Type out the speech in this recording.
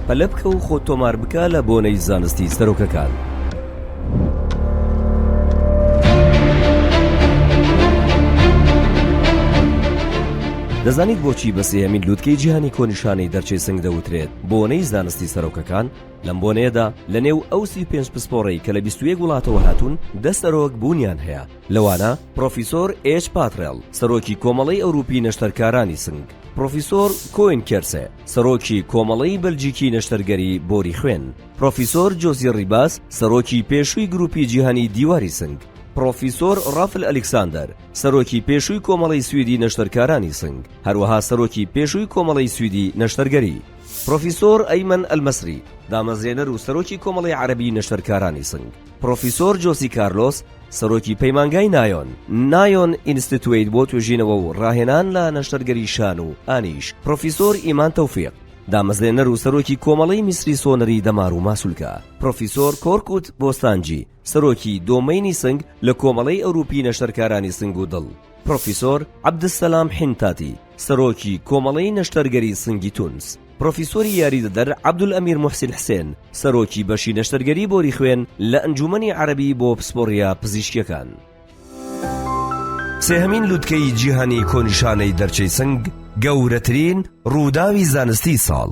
پەلە بکە و خۆت تۆمار بکە لە بۆنەی زانستی سەرۆکەکان. دەزانیت بۆچی بە سێهمین لووتکەی جیهانی کۆنیشانەی دەرچەی سنگ دەوترێت بۆنەی زانستی سەرۆکەکان لەم بۆنەیەدا لە نێو ئەوسی پێنج پسپۆڕەی کە لە 21 وڵاتەوە هاتوون دە سەرۆک بوونیان هەیە لەوانە پرۆفیسۆر ئێچ پاترێڵ، سەرۆکی کۆمەڵەی ئەوروپی نەشتەرکارانی سنگ، پرۆفیسۆر کۆین کێرسێ، سەرۆکی کۆمەڵەی بەلجیکی نەشتەرگەری بۆری خوێن، پرۆفیسۆر جۆزی ڕیباس، سەرۆکی پێشووی گروپی جیهانی دیواری سنگ، پرۆفیسۆر ڕافل ئەلیکساندەر، سەرۆکی پێشووی کۆمەڵەی سویدی نەشتەرکارانی سنگ، هەروەها سەرۆکی پێشووی کۆمەڵەی سویدی نەشتەرگەری، پرۆفیسۆر ئەیمەن ئەلمەسری، دامەزرێنەر و سەرۆکی کۆمەڵەی عەرەبی نەشتەرکارانی سنگ، پرۆفیسۆر جۆسی کارلۆس، سەرۆکی پەیمانگای نایۆن، Nayon Institute، بۆ توێژینەوە و ڕاهێنان لە نەشتەرگەری شان و ئانیش، پرۆفیسۆر ئیمان تۆفیق، دامەزرێنەر و سەرۆکی کۆمەڵەی میسری سۆنەری دەمار و ماسولکە، پرۆفیسۆر کۆرکوت بۆستانجی، سەرۆکی دۆمەینی سنگ لە کۆمەڵەی ئەوروپی نەشتەرکارانی سنگ و دڵ، پرۆفیسۆر عەبدسەلام حینتاتی، سەرۆکی کۆمەڵەی نەشتەرگەری سنگی تونس، پرۆفیسۆری یاریدەدەر عەبدولئەمیر موحسین حسێن، سەرۆکی بەشی نەشتەرگەری بۆری خوێن لە ئەنجوومەنی عەرەبی بۆ پسپۆڕییە پزیشکییەکان. سێهەمین لووتکەی جیهانی کۆنیشانەی دەرچەی سنگ، گەورەترین رووداوی زانستیی ساڵ.